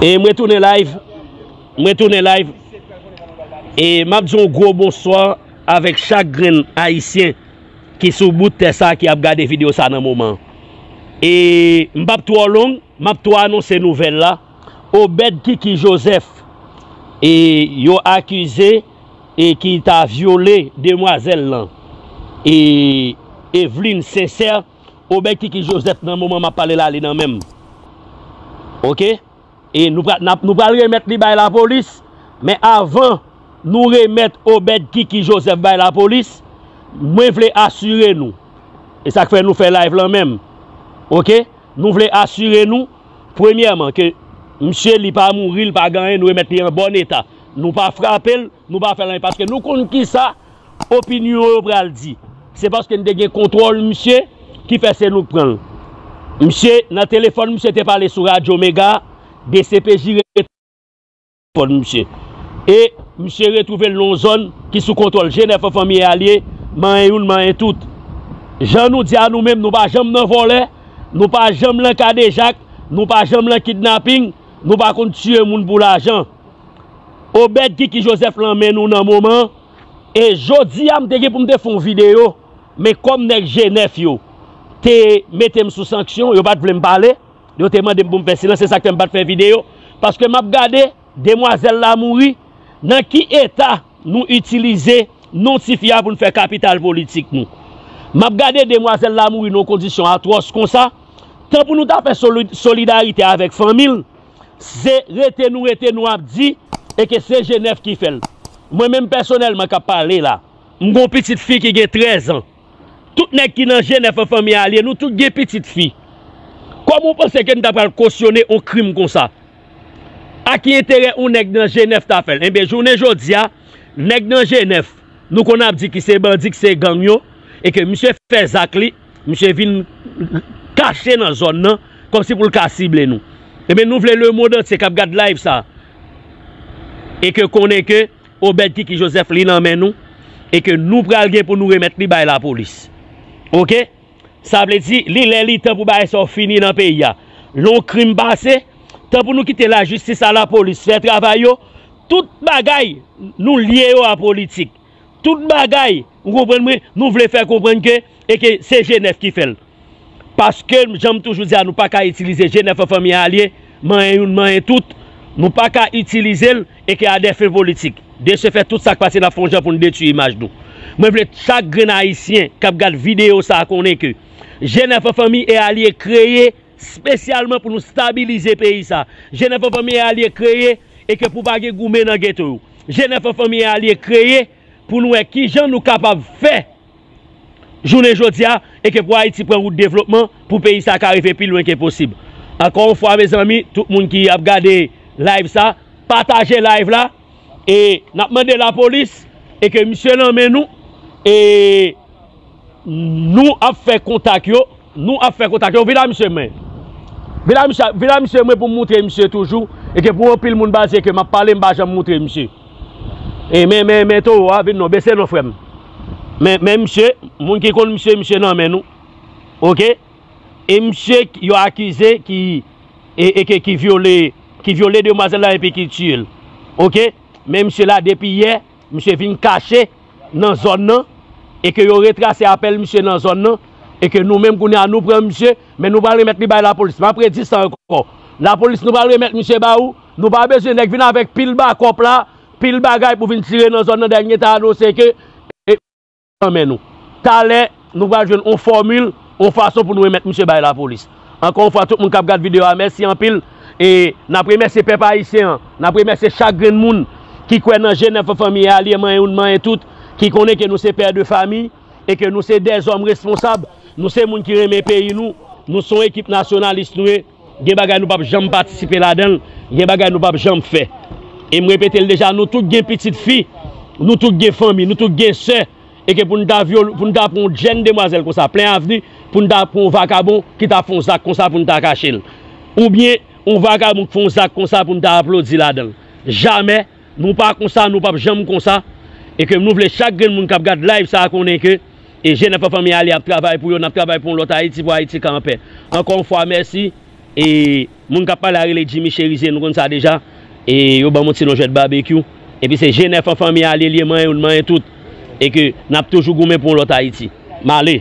E mwen tounen live, mwen tounen live, e map di yon gwo bonswa avèk chak grenn ayisyen. ki sou bout tè sa ki ap gade video sa nan moman e m pap twò long map tou anonse nouvèl la Obed Kiki Joseph e yo akize e ki ta vyole demwazèl lan e Eveline Sincère Obed Kiki Joseph nan moman map pale la li nan menm ok. E nou pral nou pral remèt li bay lapolis men avan nou remèt Obed Kiki Joseph bay lapolis mwen vle asire nou e sak fè nou fè live lan menm ok nou vle asire nou premyèman ke misye li pa mouri li pa gen anyen nou remèt li an bòn eta nou pa frapel Nou pa fè l anyen paske nou konn kisa opinyon yo pral di. Se paske n te gen kontwòl misye ki fè se nou k pran l. Misye nan telefòn misye te pale sou radyo mega dcpj rete nan telefòn misye. E misye retwouve l nan yon zòn ki sou kontwòl je nèf an fanmiye a l ye manyen youn manyen tout. Jan nou di a nou menm nou pa janm nan vòlè, nou pa janm lan kadejak, nou pa janm lan kidnaping, nou pa konn tiye moun pou lajan. Obed kiki Joseph lan men nou nan moman e jodia m te gen pou m te fon video men kòm nèg G9 yo te mete m sou sanksyon yo pat vle m pale yo te mande m pou m fè silans se sak fè m pat fè video paske map gade demwazèl la mouri nan ki eta nou itilize non tifi a pou n fè kapital politik nou map gade demwazèl la mouri nan yon kondisyon atwòs konsa tan pou nou ta fè solidarite avèk fanmi l. se rete nou rete nou ap di e ke se Jenèf ki fè l. Mwen menm pèsonèlman k ap pale la, m gen yon pitit fi ki gen trèz an. Tout nèg ki nan Jenèf an fanmi a lye, nou tout gen pitit fi. Kòman ou panse ke n ta pral kosyone yon krim konsa? A ki enterè yon nèg nan Jenèf ta fè l? Enben, jounen jodi a, nèg nan Jenèf, nou konn ap di ki se bandi, ki se gang yo, e ke misye fè zak li, Misye vin kache nan zòn nan kòmsi pou l ka sible nou. Ebyen nou vle lemond antye k ap gad layv sa e ke konnen ke Obed Kiki Joseph li nan men nou e ke nou pral gen pou nou remèt li bay lapolis. Oke. Sa vle di li lè li tan pou bagay sa yo fini nan peyi a. Lè yon krim pase, tan pou nou kite lajistis a lapolis fè travay yo. Tout bagay nou lye yo a politik. Tout bagay, ou konprann mwen, nou vle fè konprann ke e ke se G9 ki fè l. Paske m jan m toujou di a nou pa ka itilize G9 an fanmi a lye, manyen youn manyen tout, nou pa ka itilize l e ke a dè fen politik. De se fèt tout sa k pase n ap fè yon jan pou n detui imaj nou. Mwen vle chak grenn ayisyen k ap gad videyo sa a konnen ke G9 an fanmi e alye kreye spesyalman pou nou stabilize peyi sa a. G9 an fanmi e alye kreye e ke pou pa gen goumen nan geto yo. Jenèf an Fanmi a li kreye pou nou wè ki jan nou kapab fè jounen jodi a e ke pou Ayiti pran wout devlopman pou peyi sa ka rive pi lwen ke posib. Ankò yon fwa mezanmi, tout moun ki ap gade live sa, pataje live la e n ap mande lapolis e ke misye nan men nou e. Nou ap fè kontak yo Nou ap fè kontak yo Vin a misye men Vin a misye Vin a misye mwen pou m moutre misye toujou E ke pou anpil moun baze ke m ap pale m pa janm moutre misye E men men men towo a vin non Bese non frè m Men men misye Moun ki konn misye misye nan men nou Ok E misye yo akize ki E e ke ki vyole Ki vyole demwazèl la epi ki tiye l Ok Men misye la depi yè Misye vin kache nan zòn nan e ke yo retrase apèl misye nan zòn nan e ke nou menm kounye a nou pran misye men nou pral remèt li bay lapolis. M ap redi sa ankò, lapolis nou pral remèt misye ba ou, nou pa bezwen nèg vin avèk pil bakòp la, pil bagay pou vin tire nan zòn nan dènye ta anonse ke. nan men nou. Talè, nou pral jwenn yon fòmil, yon fason pou nou remèt misye bay lapolis. Ankò yon fwa, tout moun k ap gad videyo a, mèsi anpil. E, n ap remèsye pèp ayisyen an. N ap remèsye chak grenn moun ki kwè nan je nèf an fanmi a, lye manyen youn manyen tout, ki konnen ke nou se pè de fami e ke nou se dèzòm responsab. Nou se moun ki renmen peyi nou. Nou se yon ekip nasyonalis nou ye. Gen bagay nou pap janm patisipe ladan l, gen bagay nou pap janm fè. E m repete l deja, nou tout gen pitit fi, nou tout gen fanmi, nou tout gen sè, e ke pou n ta vyole, pou n ta pran yon jenn demwazèl konsa plen avni, pou n ta pran yon vakabon ki ta fè yon zak konsa pou n ta kache l. Oubyen yon vakabon ki fè yon zak konsa pou n ta aplodi ladan l. Jamè! Nou pa konsa, nou pap janm konsa e ke nou vle chak grenn moun kap gad live sa konnen ke e je nap anfan men ale ap travay pou yo nap travay pou yon lòt Ayiti pou Ayiti ka anpè. Ankò yon fwa mèsi e moun kap pale a rele Jimmy Cherizier nou konn sa deja e yo banm yon ti non jwèt Babekyou epi se je nèf anfan men ale li e manyen youn manyen tout e ke nap toujou goumen pou yon lòt Ayiti. M ale.